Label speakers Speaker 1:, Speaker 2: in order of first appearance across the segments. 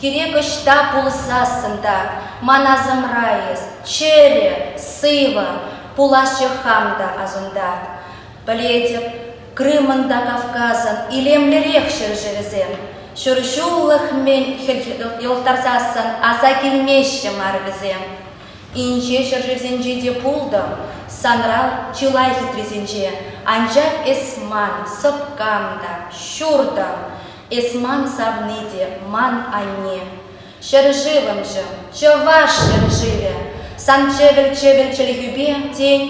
Speaker 1: Кирек ӑҫта пулсассӑн та ман асӑмра эс, чӗрӗ, сывӑ, пуласчӗ хам та асунта. Пӗлетӗп, Крымӑн та Кавказӑн илемлӗрех ҫӗршывӗсем, ҫур ҫуллӑх-мӗн хӗлхе йӑлтӑрсассӑн аса килмеҫҫӗ мар вӗсем. Инҫе ҫӗршывсенче те пултӑм, санран чылай хитрисенче, анчах эс ман сӑпкам та, ҫуртӑм, Эс ман савни те, ман анне. Ҫӗршывӑмҫӑм, чӑваш ҫӗршывӗ, сан чӗвӗл-чӗвӗл чӗлхӳпе, тен,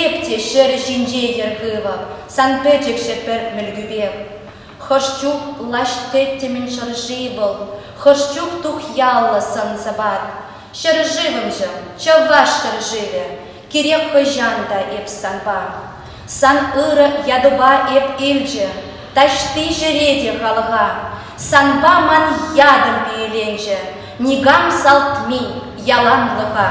Speaker 1: эп те ҫӗр ҫинче йӗр хывӑп, сан пӗчӗкҫӗ пӗр мӗлкӳпех. Хӑш чух лаҫ тӗттӗмӗн шӑрши вӑл, хӑш чух тухьяллӑ сӑн-сӑпат. Ҫӗршывӑмҫӑм, чӑваш ҫӗршывӗ, Кирек хӑҫан та эп санпа, Сан ырӑ ятупа эп илчӗ, Таҫти ҫӗре те халӑха, Санпа ман ятӑм пиеленчӗ, Никам салт-ми яланлӑха.